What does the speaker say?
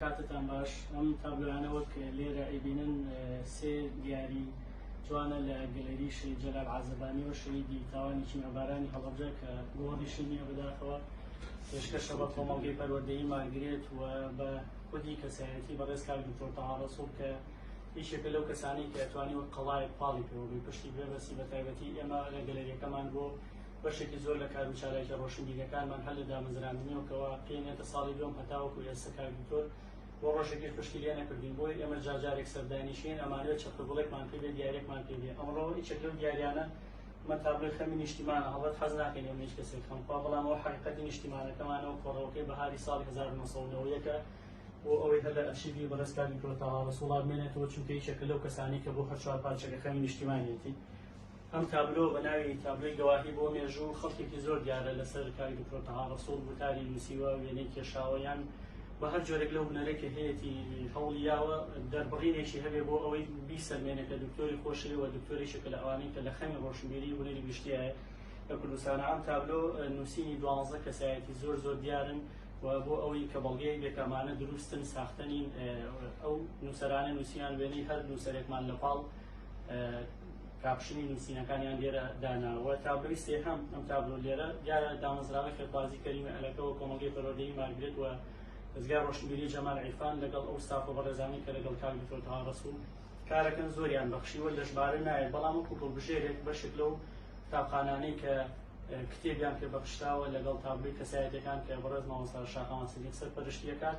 کاتتان باش ئەم تابلۆیانە وەک لێرە ئەیبینن سێ دیاری جوانە لە گەلەری شەید جەلال عازەبانیەوە شەیدی تاوانی کیمیابارانی هەڵەبجە کە گۆڕی شنیە بەداخەوە پێشکەشە بە کۆمەڵگەی پەروەردەی مارگرێت و بە خودی کەسایەتی بەڕێز کار دکتۆر تەهاڕەسوڵ کە یەکێکە لەو کەسانی کە توانی وەک قەڵایەک پاڵی پێوەبی پشتی بێبەسی بە تایبەتی ئێمە لە گەلەریەکەمان بۆ بەشێکی زۆر لە کار و چالاکی ڕۆشنبیریەکانمان هەر لە دامەزراندنیەوەکەوە پێنێتە ساڵی دوم هەتاوەکو ئێستا کاک دکتۆر بۆ ڕۆژێکی پشتی لێ نەکردین بۆی ئێمە جارجارێک سەردانیشین ئەمانوێت چەقەگوڵێکمان پێ بێ دیارێکمان پێ بێ ئەمڕۆ هیچێک لەو دیاریانە من تابلۆی خەمی نیشتیمانە هەڵبەت حەز ناکەین ئەم هیچ کەسێک خەم خوا بەڵام ئەو حەقیقەتی نیشتیمانەکەمانەوە کۆڕەوەکەی بەهاری ساڵی 1990ەکە بۆ ئەوەی هەر لە ئەرشیوی بەڕێزکانی کۆتاوا ڕەسوڵا بمێنێتەوە چونکە یەکێکە لەو کەسانی کە بۆ هەر چوار پارچەکە خەمی نیشتیمانیەتی ئەم تابلۆ بە ناوی تابلۆی گەواهی بۆ مێژوو خەڵکێکی زۆر دیارە لەسەر کاری دکتۆر تەها ڕەسوڵ وتاری نووسیوە وێنەی کێشاوە یان بە هەر جۆرێک لەو هونەرێک کە هەیەتی هەوڵی یاوە دەربڕینێکی هەبێ بۆ ئەوەی بیسەلمێنە کە دکتۆری خۆشەوێ و دکتۆریشە کە لە ئەوانەی کە لە خەمی ڕۆشنبیری هونەری گشتیایە لە کوردستانە ئەم تابلۆ نووسینی دوانزە کەسایەتی زۆر زۆر دیارن و بۆ ئەوەی کە بەڵگەیەک بێکامانە دروستن ساختەنین ئەو نووسەرانە نووسیان وێنەی هەر نووسەرێکمان لە پاڵ کاپشنی نووسینەکانیان لێرە داناوە تابلۆی سێهەم ئەم تابلۆ لێرە دیارە دامەزراوە خێرخوازی کەریمە ئەلەکەوە کۆمەڵگەی پەروەردەی مارگرێت و دەزگای ڕۆشنبیری جەمال عیرفان لەگەڵ ئەو ستافە بەڕێزانەی کە لەگەڵ کاک دکتۆر تەها ڕەسوڵ کارەکەن زۆریان بەخشیوە لە ژمارە نایێت بەڵام وەکو گڵبژێرێک بەشێک لەو قوتابخانانەی کە کتێبیان پێ بەخشراوە لەگەڵ تابلۆی کەسایەتەکان کە بەڕێز مامۆستا شاخەوان سەدیق سەرپەرشتی دەکات